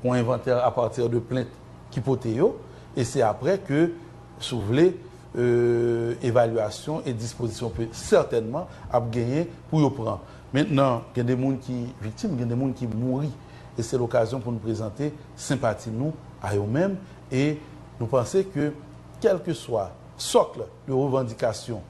Yon envantè a pati de plent ki pote yo, e se apre ke, si w vle, evalyasyon e dispozisyon pe, sètènman, ap genyen pou yo pran. Mentnan, gen de moun ki viktim, gen de moun ki mouri, e se lokazyon pou nou prezante senpati nou a yo menm, e nou panse ke kèlkeswa sòkl de revandikasyon,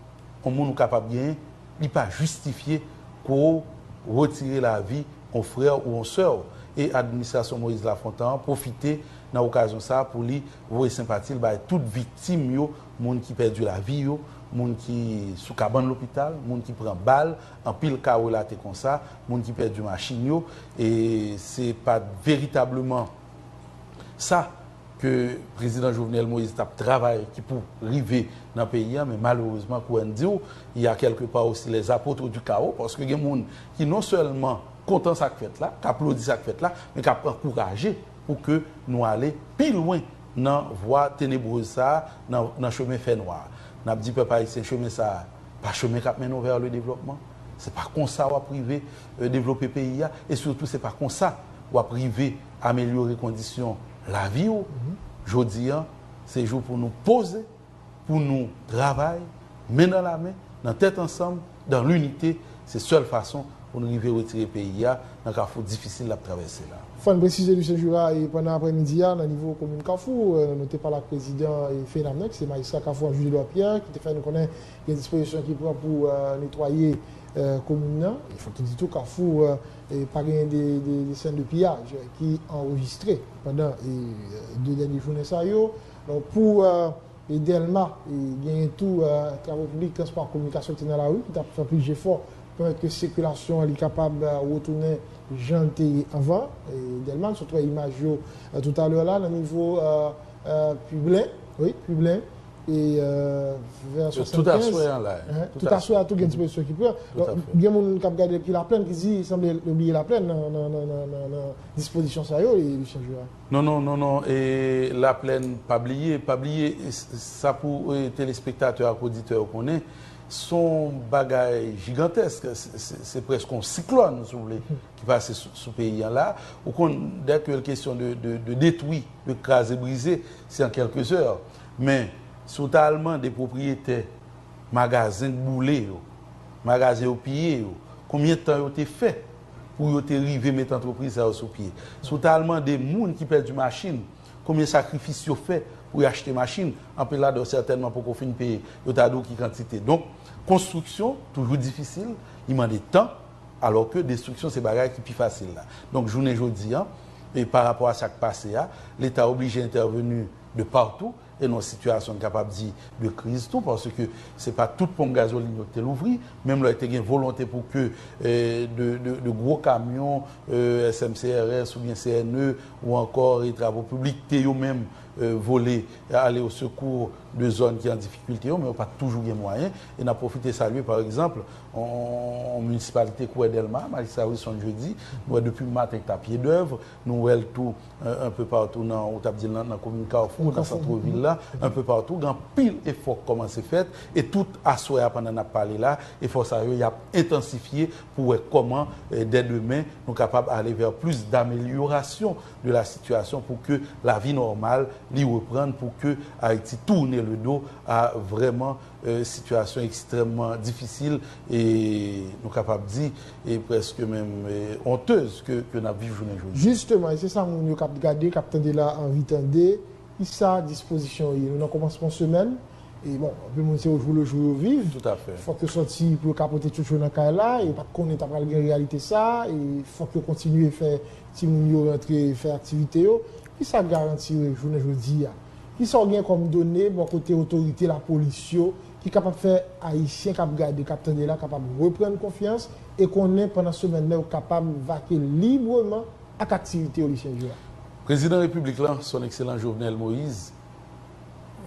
yon moun ou kapab genyen, li pa jistifye pou ou retire lavi yon frè ou yon sè ou. E administrasyon Moïse Lafontan an pwofite nan okazyon sa a pou li voye senpati l bay tout viktim yo, moun ki pèdi lavi yo, moun ki sou kabann lopital, moun ki pran bal, anpil ka relate konsa, moun ki pèdi machin yo. E se pa veritableman sa. ke Prezidan Jovenel Moïse tap travay ki pou rive nan peyi a men malerezman kou Ann diw il ya kèlke pa osi les apotres du chaos paske gen moun ki non sèlman kontan sak fèt la k aplodi sak fèt la men kap ankouraje pou ke nou ale pi lwen nan vwa tenebreuse sa nan chemen fè nwa a nap di pèp ayisyen chemen sa pa chemen kap mennen w vers le développement se pa konsa wap rive devlope peyi a e sitou se pa konsa wap rive Amelyore kondisyon lavi ou, Jodi an, se jou pou nou poze, pou nou travay, men nan lamen, nan tèt ansanm, dan linite, se sèl fason pou nou rive retire peyi a nan kafou difisil l ap travèse la. Fò n presize Lucien Jura pandan aprè midi a nan nivo komin kafou nou te pale ak prezidan FENAME ki se majistra kafou a Jules Edouard Pierre ki te fè n konnen gen dispozisyon ki pran pou netwaye komin nan. Fòk nou di tou kafou Pa genyen de sèn de piyaj ki anrejistre pandan 2 dènye jounen sa yo. Pou Dèlma, genyen tou travo piblik, transpò, kominikasyon ki te nan lari, ki t ap fè plis jefò pou pèmèt ke sikilasyon li kapab retounen jan l te ye anvan Dèlma. Sot wè imaj yo toutalè la nan nivo Piblen. Tout aswè an la. Tout aswè an tou gen dispozisyon ki pran. Gen moun k ap gade depi Laplèn ki di sanble yo bliye Laplèn nan dispozisyon sa yo Lucien Jurat. Non non, non non, Laplèn pa bliye, pa bliye sa pou telespektatè ak oditè yo konnen s on bagay jigantèsk, se prèske yon siklòn si w vle ki pase sou peyi an la. Ou konn dèke l kesyon de detwi, de kraze brize se an kèlke zè. Men, si w ta al mande pwopriyetè magazen k boule yo, magazen yo piye yo, konbyen tan yo te fè pou yo te rive met antrepriz sa yo sou pye, si w ta al mande moun ki pèdi machin konbyen sakrifis yo fè pou y achte machin, anpil ladan yo sètènman poko fin peye, yo ta di w ki kantite. Donk, konstriksyon toujou difisil, li mande tan, alò ke destriksyon se bagay ki pi fasil la. Donk, jounen jodi a, parapò a sa k pase a, Leta oblije entèveni. de partout e nan yon sitiyasyon n kapab di de kriz tou paske se pa tout ponp gazolin yo ki te louvri menm lè te gen volonte pou ke de gwo kamyon SMCRS oubyen CNE ou ankò Travaux Publics te yo menm vole ale o sekou de zòn ki an difikilte yo men yo pa t toujou gen mwayen e n ap pwofite salye pa egzanp yon minisipalite kou wè Dèlma Majistra Wilson Jeudi nou wè depi maten ki ta pyedèv Nou wè l tou un peu partout nan, ou t ap di l nan komin Kafou, nan centre ville la, un peu partout gen anpil efò k kòmanse fèt e tout aswè a pandan n ap pale la efò sa yo y ap entansifye pou wè kòman dè demen nou kapab ale vè plis damelyorasyon de la sitiyasyon pou ke lavi nòmal li reprann pou ke Ayiti tourne le dos a vrèman sitiyasyon ekstrèmman difisil e nou kapab di e prèske menm onteuse ke nap viv jounen jodi. Jisteman e se sa moun yo kap gade, kap tande la anvi tande, ki sa dispozisyon yo ye? Nou nan kòmansman semèn e bon anpil moun se ojou le jou yo viv, fòk yo sòti pou yo ka pote tchotcho nan kay la, yo pat konnen ta pral gen reyalite sa e fòk yo kontinye fè timoun yo rantre fè aktivite yo. Ki sa garanti jounen jodi a? Kisa w gen kòm done bò kote otorite lapolis yo ki kapab fè Ayisyen k ap gade, k ap tande la kapab reprann konfyans e konnen pandan semèn nan yo kapab vake libreman ak aktivite yo Lucien Jurat? Prezidan Repiblik la, Son Ekselan Jovenel Moise,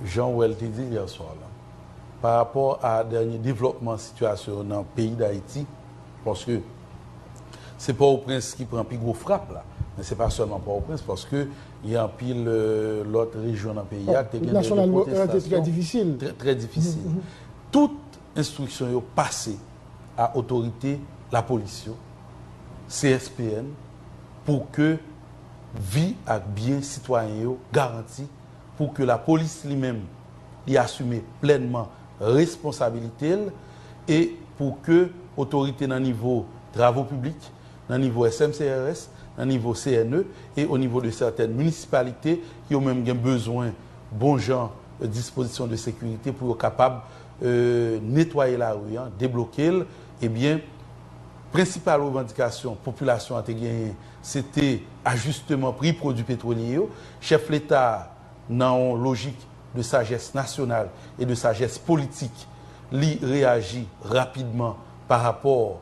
jan w wè l te di l yè swa la, pa rapò a dènye devlòpman sitiyasyon nan peyi Dayiti, paske se Pòtoprens ki pran pi gwo frap la, men se pa sèlman Pòtoprens paske Gen anpil lòt rejyon nan peyi a k te gen de pwotestasyon trè difisil. Tout enstriksyon yo pase a otorite lapolis yo, CSPN, pou ke vi ak byen sitwayen yo garanti, pou ke lapolis li menm li asime plènman responsabilite l e pou ke otorite nan nivo travo piblik, nan nivo SMCRS, nan nivo CNE e o nivo de sètèn minisipalite ki yo menm gen bezwen bon jan dispozisyon de sekirite pou yo kapab netwaye lari an, debloke l, ebyen prensipal revandikasyon popilasyon an te genyen se te ajisteman pri pwodui petwolye yo. Chèf Leta a nan on lojik de sajès nasyonal e de sajès politik li reyaji rapidman pa rapò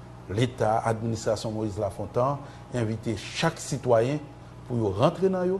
Leta, administrasyon Moïse Lafontan envite chak sitwayen pou yo rantre nan yo,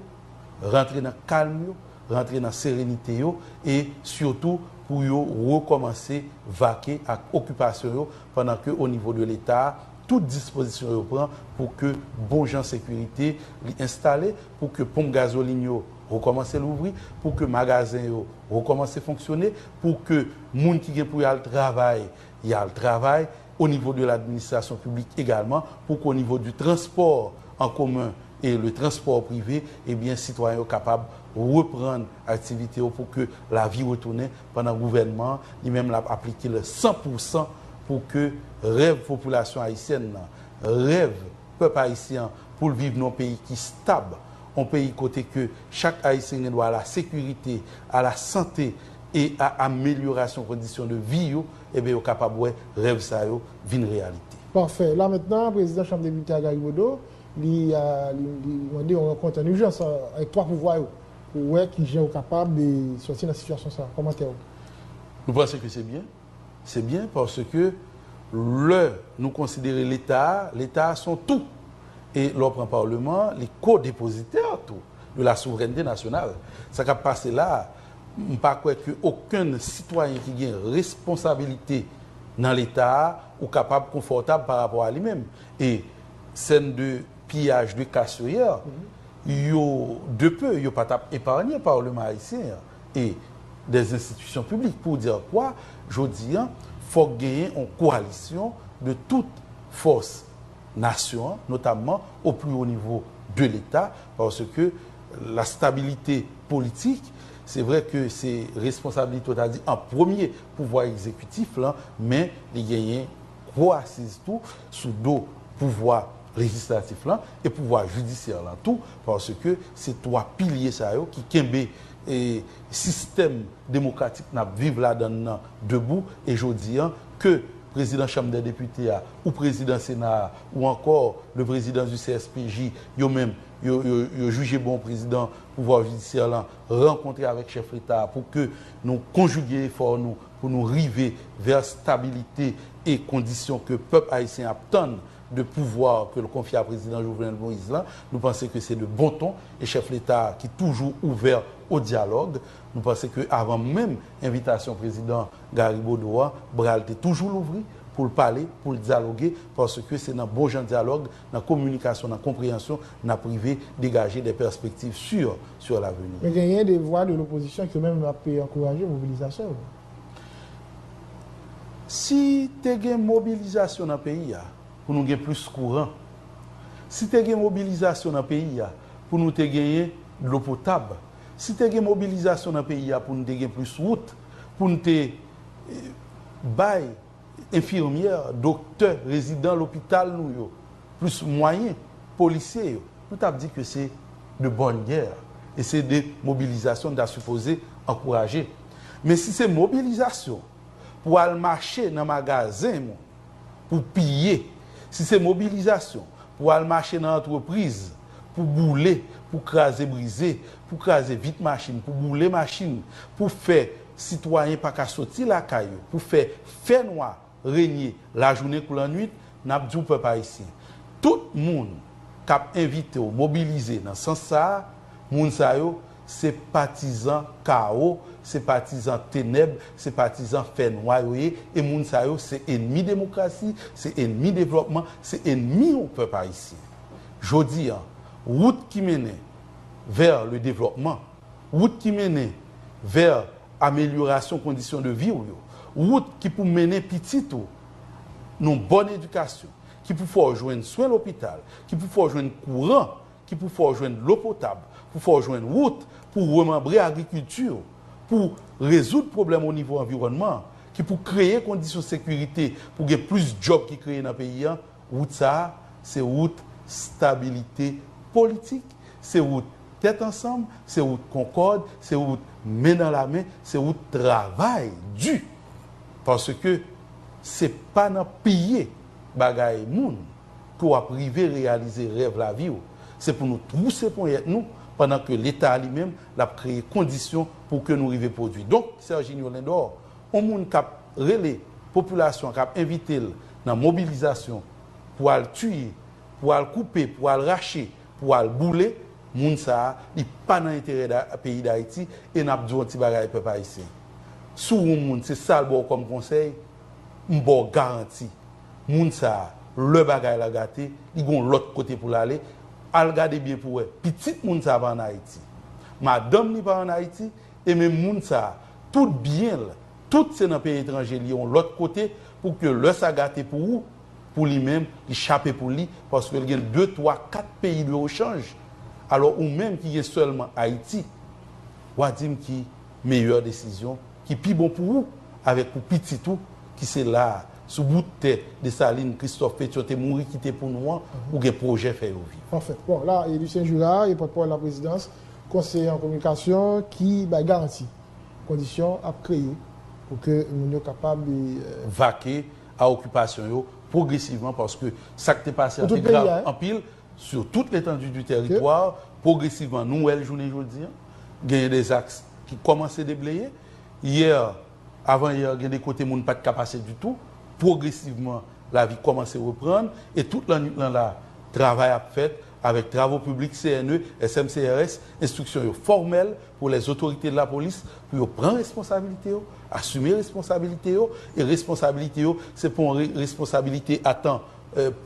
rantre nan kalm yo, rantre nan serenite yo e sitou pou yo rekòmanse vake ak okipasyon yo pandan ke onivo de Leta tout dispozisyon yo pran pou ke bon jan sekirite li enstale, pou ke ponp gazolin yo rekòmanse louvri, pou ke magazen yo rekòmanse fonksyone, pou ke moun ki gen pou y al travay Y al travay o nivo de l'administration publique egalman pou k'o nivo du transport en commun et le transport privé, ebyen sitwayen yo kapab reprann aktivite yo pou ke lavi retounen pandan gouvènman an li menm l'ap aplike le san pou san pou ke rèv popilasyon ayisyèn nan, rèv pèp ayisyen an pou l viv nan yon peyi ki stab, yon peyi kote ke chak ayisyen gen dwa a la sekirite, a la sante, e a amelyorasyon kondisyon de vi yo, eben yo kapab wè rèv sa yo vin reyalite. Pafè. La mentnan, prezidan Chanm Depite a, Gary Bodeau, li mande yon rankont an ijans avèk 3 pouvwa yo pou wè ki jan yo kapab sòti nan sitiyasyon sa a. Kòmantè ou? Nou panse ke se byen. Se byen paske lè nou konsidere Leta a, Leta a son tou. E lè w pran Paleman an, li ko-depozitè tou de la souvrènte nasyonal. Sa k ap pase la a, M pa kwè ke okenn sitwayen ki gen responsabilite nan leta a ou kapab konfòtab pa rapò a li menm. E sèn de piyaj de kas yo yè, yo de peu yo pa tap eparnye Parleman Ayisyen an e dè enstitisyon piblik. Pour dire quoi, jodi an fòk genyen on koalisyon de tout fòs nasyon an, notamman au plus haut niveau de l'Etat, paske Lastabilite politik, se vre ke se responsabilite ou ta di an premye pouvwa egzekitif lan, men li genyen gwo asiz tou sou do pouvwa lejislatif lan e pouvwa jidisyè lan tou, paske se 3 pilye sa yo ki kenbe sistèm demokratik n ap viv ladan l lan debou e jodi an ke prezidan chanm dè depite a ou prezidan sena a ou ankò le prezidan di CSPJ yo menm yo jije bon prezidan pouvwa jidisyè lan rankontre avèk chèf leta a pou ke nou konjige efò nou pou nou rive vè stabilite e kondisyon ke pèp ayisyen ap tann de pouvwa ke l konfye a prezidan Jovenel Moïse lan. Nou panse ke se de bon ton e chèf leta a ki toujou ouvè o dyalòg, nou panse ke avan menm envitasyon prezidan Garry Bodeau an, bra l te toujou louvri pou l pale, pou l dyaloge, paske se nan bon jan dyalòg nan kominikasyon, nan konpreyansyon, n ap rive degaje de pèspektiv si sur laveni. Men genyen de vwa de lopozisyon ke menm ap ankouraje mobilizasyon yo. Si te gen mobilizasyon nan peyi a pou nou gen plis kouran, si te gen mobilizasyon nan peyi a pou nou te genyen dlo potab, si te gen mobilizasyon nan peyi a pou nou te gen plis wout, pou nou te bay. Enfirmyè, doktè, rezidan lopital nou yo, plis mwayen, polisye yo, nou tap di ke se de bonne guerre e se de mobilizasyon nou ta sipoze ankouraje. Men si se mobilizasyon pou al mache nan magazen moun pou piye, si se mobilizasyon pou al mache nan antrepriz pou boule, pou kraze brize, pou kraze vit machin, pou boule machin, pou fè Sitwayen pa ka soti lakay yo pou fè fè nwa renye lajounen kou lannwit, n ap di w pèp ayisyen, tout moun k ap envite w mobilize nan sans sa a, moun sa yo se patizan kawo, se patizan tenèb, se patizan fè nwa yo ye e moun sa yo se enmi demokrasi, se enmi devlòpman, se enmi w pèp ayisyen. Jodi an, wout ki mennen vè ledevlòpman. Wout ki mennen vè amelyorasyon kondisyon de vi w yo. Wout ki pou mennen pitit ou nan yon bòn edikasyon, ki pou fè w jwenn swen lopital, ki pou fè w jwenn kouran, ki pou fè w jwenn dlo potab, pou fè w jwenn wout pou w remanbre agrikilti w, pou w rezoud pwoblèm onivo anviwònman an, ki pou kreye kondisyon sekirite pou gen plis djòb ki kreye nan peyi an, wout sa a, se wout stabilite politik, se wout Tèt ansanm, se wout konkòd, se wout men nan la men, se wout travay di. Paske se pa nan piye bagay moun ke w ap rive reyalize rèv lavi w. Se pou nou twouse ponyèt nou pandan ke Leta li menm l ap kreye kondisyon pou ke nou rive pwodui. Donk, Serginio Lindor, yon moun k ap rele popilasyon an, k ap envite l nan mobilizasyon pou al tiye, pou al koupe, pou al rache, Pou al boule Moun sa a li pa nan enterè peyi dayiti e nap diw yon ti bagay pèp ayisyen si w yon moun se sal baw kòm konsèy m baw garanti moun sa a lè bagay la gate li gon lòt kote pou l ale al gade byen pou wè pitit moun sa a pa an ayiti madanm li pa an ayiti e menm moun sa a tout byen l tout se nan peyi etranje li yon lòt kote pou ke lè sa gate pou ou pou li menm li chape pou li paske li gen 2 3 4 peyi biro chanj alò ou menm ki gen sèlman ayiti wa dim ki meyè desizyon ki pi bon pou ou avèk pou pitit ou ki se la sou bout tè Dessalines Christophe Pétion te mouri kite pou nou an ou gen pwojè fè yo viv. Anfen, bon la e Lucien Jura e pòtpawòl laprezidans, konseye an kominikasyon ki bay garanti kondisyon ap kreye pou ke moun yo kapab. Vake a okipasyon yo pwogresivman paske sa k te pase an te grav anpil sou tout letandu di teritwa pwogresivman nou wè l jounen jodi an genyen de zaks ki kòmanse debleye yè avan yè gen de kote moun pat ka pase ditou pwogresivman lavi kòmanse reprann e tout lannwit lan la travay ap fèt Avèk travo piblik CNE, SMCRS, enstriksyon yo fòmèl pou lè zotorite de la polis pou yo pran responsabilite yo, asime responsabilite yo, e responsabilite yo se pa yon re responsabilite a tan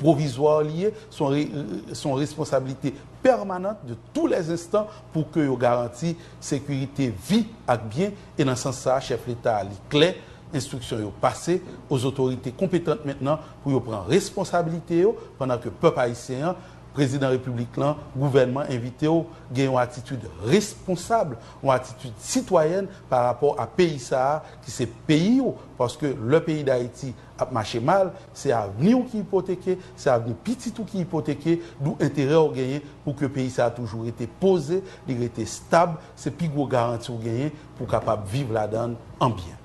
pwovizwa li ye, se yon re se yon responsabilite pèmanant de tou lè zenstan pou ke yo garanti sekirite vi ak byen e nan sans sa a chèf leta a li klè enstriksyon yo pase o zotorite konpetant mentnan pou yo pran responsabilite yo pandan ke pèp ayisyen an, prezidan repiblik lan, gouvènman envite w gen yon atitid responsab, yon atitid sitwayèn pa rapò a peyi sa a ki se peyi w paske lè peyi dayiti ap mache mal se avni w ki ipoteke, se avni pitit ou ki ipoteke dou enterè w genyen pou ke peyi sa a toujou rete poze, li rete stab. Se pi gwo garanti ou genyen pou w kapab viv ladan l an byen.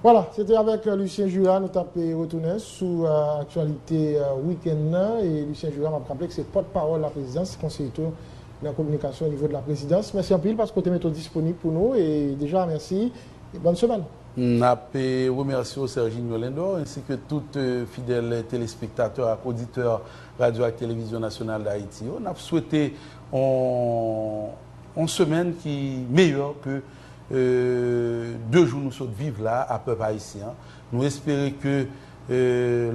Wala, se te avèk Lucien Jura nou t ap retounen sou aktyalite wikenn nan. E Lucien Jura, m ap raple ke se pòtpawòl laprezidans, konseye tou nan kominikasyon onivo de laprezidans. Mèsi anpil paske w te mete w disponib pou nou. E deja mèsi e bòn semèn. M ap remèsye w Serginio Lindor ensi ke tout fidèl telespektatè ak oditè Radyo ak Televizyon Nasyonal Dayiti yo. N ap swete yon. Yon semèn ki meyè ke 2 jou nou sot viv la a pèp ayisyen an. Nou espere ke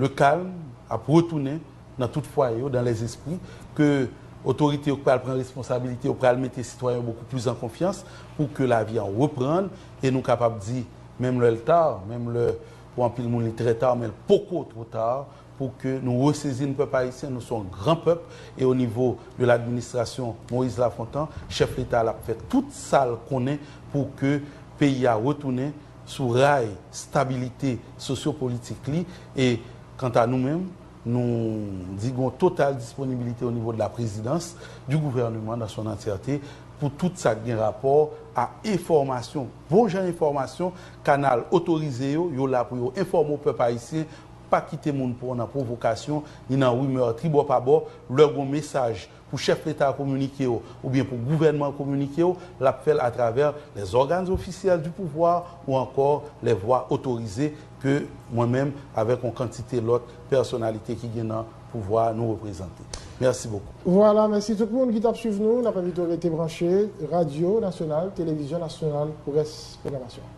le calme ap retounen nan tout fwaye yo, dans les esprits, ke otorite yo pral pran responsabilite yo, pral mete sitwayen yo beaucoup plus en confiance pou ke lavi an reprann e nou kapab di menm lè l tard, menm lè pou anpil moun li trè tard men l poko two tard pou ke nou resezin pèp ayisyen nou son gran pèp e o nivo de l'administration Moïse Lafontan chèf leta lap fè tout sal konnen pou ke peyi a retounen sou ray stabilite sosyo politik li e kanta nou menm nou di gon total disponibilite o nivo de la prezidans du gouvernement dans son entièreté pou tout sak gen rapò a enfòmasyon bon jan enfòmasyon kanal otorize yo yo la pou yo enfòme o pèp ayisyen Pa kite moun pran w nan pwovokasyon ni nan rimè tribò pabò. Lè gon mesaj pou chèf leta a kominike w oubyen pou gouvènman an kominike w, l ap fè l atravè les organes officiels du pouvoir ou ankò les voies autorisées ke mwen menm avèk on kantite lòt pèsonalite ki gen nan pouvwa a nou reprezante. Mèsi bokou. Vwala, mèsi tout moun ki t ap swiv nou. N ap envite w rete branche, radyo nasyonal, televizyon nasyonal pou rès pwogramasyon an.